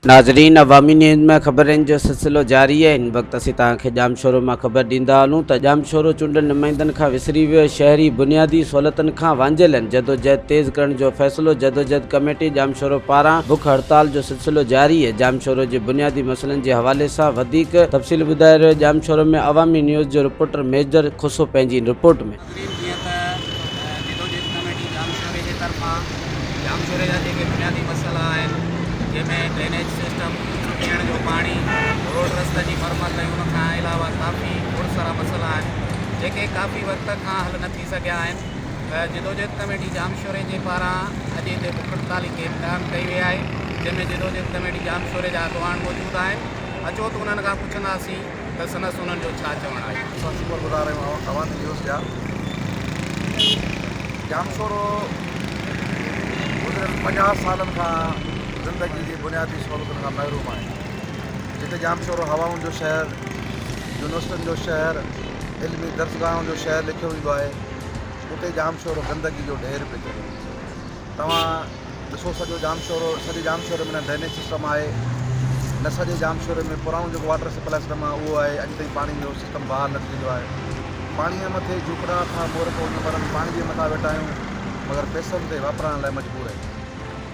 ناظرين عوامي نيوز ۾ خبرن جو سلسلو جاري آهي هن وقت اسين توهان کي ڄامشورو مان خبر ڏيندا هلون ته ڄامشورو چونڊيل نمائندن کان وسري ويو شهري بنيادي سهولتن کان وانجهيل آهن جدوجهد تيز ڪرڻ جو فيصلو جدوجهد ڪميٽي ڄامشورو پاران بک هڙتال جو سلو جاري اهي ڄامشورو جي بنيادي مسئلن جي حوالي سان وڌيڪ تفصيل ٻڌائي رهيو ڄامشورو ۾ عوامي نيوز جو رپورٽر ميجر کوسو پنهنجي ان رپورٽ ۾. تقريب جيئن ته جدوجهد ڪميٽي ڄامشوري جي طرفان ڄامشوري جا جيڪي بنيادي مسئلا آهن جنهن ۾ ڊرينيج سسٽم، پيئڻ جو پاڻي، روڊ رستن جي مرمت ۽ ان کان علاوه ڪافي گهڻ سارا مسئلا آهن جيڪي ڪافي وقت کان حل نه ٿي سگهيا آهن. جدوجهد ڪميٽي ڄامشوري جي پاران اڄ هتي بک هڙتال جي کيپ قائم ڪئي وئي آهي جنهن ۾ جدوجهد ڪميٽي ڄامشوري جا اڳواڻ موجود آهن اچو ته انهن کان پڇنداسين ته سندس انهن جو ڇا چوڻ آهي. اسان شڪر گذار آهيون اوهان نيوز جا ڄامشورو گذريل پنجاهه سالن کان زندگي جي بنيادي سهولتن کان محروم آهي جتي ڄامشورو هوائن جو شهر يونيورسٽين جو شهر علمي درسگاهن جو شهر ليکيو ويندو آهي اتي ڄامشورو گندگي جو ڍير پئي چڙهي توهان ڏسو سڄو ڄامشورو سڄي ڄامشوري ۾ نه ڊرينيج سسٽم آهي نه سڄي ڄامشوري ۾ پراڻو جيڪو واٽر سپلاء سسٽم آهي اهو آهي اڄ تائين پاڻي جو سسٽم بحال نه ٿي سگهيو آهي پاڻي جي مٿي جهوپڙا اٿا مورک وڃو مرن پاڻي جي مٿا ويٺا آهيون مگر پئسن تي واپرائڻ لاء مجبور آهيون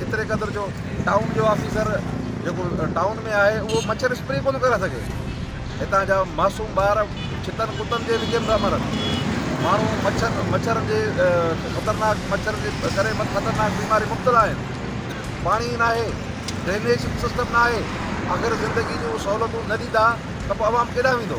ايتري قدر جو ٽائون جو آفيسر جيڪو ٽائون ۾ آهي اهو مڇر اسپري ڪونه ڪري سگهي. هتان جا معصوم ٻار ڇتن ڪتن جي وچ ۾ پيا مرن. ماڻهو مڇر مڇرن جي خطرناڪ مڇرن جي ڪري خطرناڪ بيمارين مبتلا آهن. پاڻي ئي ناهي، ڊرينيج سسٽم ناهي. آخر زندگي جون سهولتون نه ڏيندا ته پوء عوام ڪيڏانهن ويندو؟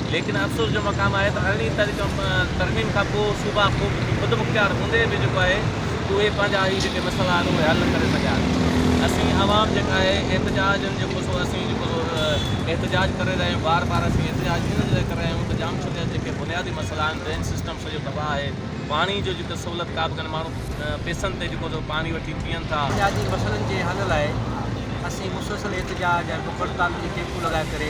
ليڪن افسوس جو مقام آهي ته ارڙهين تاريخ ترميم کان پوء صوبا خودمختيار هوندي به جيڪو آهي اهي پنهنجا هي جيڪي مسئلا آهن اهي حل نه ڪري سگهيا آهن اسين عوام جيڪا آهي احتجاجن جيڪو سو اسين جيڪو سو احتجاج ڪري رهيا آهيون بار بار اسين احتجاج ان جي لاء ڪري رهيا آهيون ته ڄامشوري جا جيڪي بنيادي مسئلا آهن ڊرين سسٽم سڄو تباهه آهي پاڻي جو جيڪو سهولت ڪابه ڪانهي ماڻهو پيسن تي جيڪو سو پاڻي وٺي پيئن ٿا. بنيادي مسئلن جي حل لاء اسين مسلسل احتجاج ۽ بک هڙتالن جي ڪيمپون لڳائي ڪري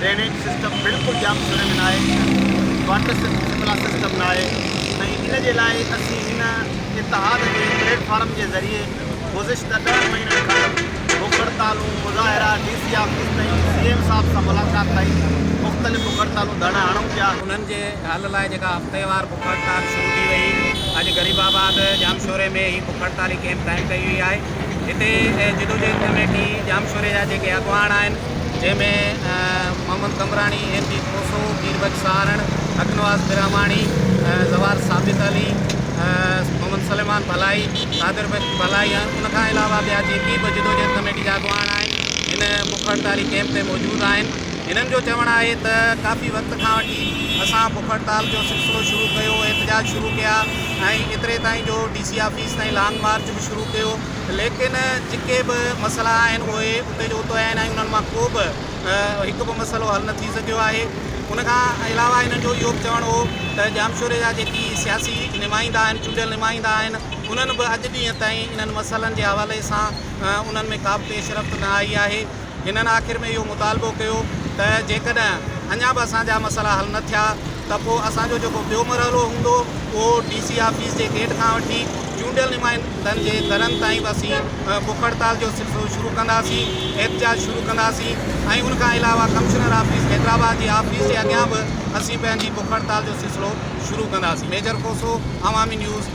ڊرينيج سسٽم بلڪل ڄام سري ۾ ناهي، واٽر سپلاء سسٽم ناهي ۽ ان جي لاء اسين هن اتحاد جي پليٽ فارم جي ذريعي گذشته ڏهن مهينن کان بک هڙتالون، مظاهرا، ڊي سي آفيس تائين سي ايم صاحب سان ملاقات تائين مختلف بک هڙتالون ڌرڻا هڻون پيا. انهن جي حل لاء جيڪا هفتيوار بک هڙتال شروع ٿي وئي اڄ غريب آباد ڄام شوري ۾ هي بک هڙتالي ڪيمپ قائم ڪئي وئي آهي. هتي جدوجهد ڪميٽي ڄام شوري جا جيڪي اڳواڻ آهن. جنهن ۾ محمد قمبراڻي، ايم پي کوسو، پير بخش سهارڻ، حق نواز براهماڻي، زوار ثابت علي، محمد سليمان ڀلائي، قادر بخش ڀلائي ۽ ان کان علاوه ٻيا جيڪي به جدوجهد ڪميٽي جا اڳواڻ آهن هن بک هڙتالي ڪئمپ تي موجود آهن. هنن جو چوڻ آهي ته ڪافي وقت کان وٺي اسان بک هڙتال جو سلسلو شروع ڪيو، احتجاج شروع ڪيا ۽ ايتري تائين جو ڊي سي آفيس تائين لانگ مارچ به شروع ڪيو. ليڪن جيڪي به مسئلا آهن اهي اتي جو اتو آهن ۽ انهن مان ڪو به هڪ به مسئلو حل نه ٿي سگهيو آهي. ان کان علاوه هنن جو اهو به چوڻ هو ته ڄامشوري جا جيڪي سياسي نمائندا آهن چونڊيل نمائندا آهن انهن به اڄ ڏينهن تائين انهن مسئلن جي حوالي سان انهن ۾ ڪا به پيش رفت نه آئي آهي. هنن آخر ۾ اهو مطالبو ڪيو ته جيڪڏهن اڃا به اسان جا مسئلا حل نه ٿيا ته پوء اسان جو جيڪو ٻيو مرحلو هوندو اهو ڊي سي آفيس جي گيٽ کان وٺي چونڊيل نمائندن جي گهرن تائين به اسين بک هڙتال جو سلسلو شروع ڪنداسين احتجاج شروع ڪنداسين ۽ ان کان علاوه ڪمشنر آفيس حيدرآباد جي آفيس جي اڳيان به اسين پنهنجي بک هڙتال جو سلسلو شروع ڪنداسين ميجر کوسو عوامي نيوز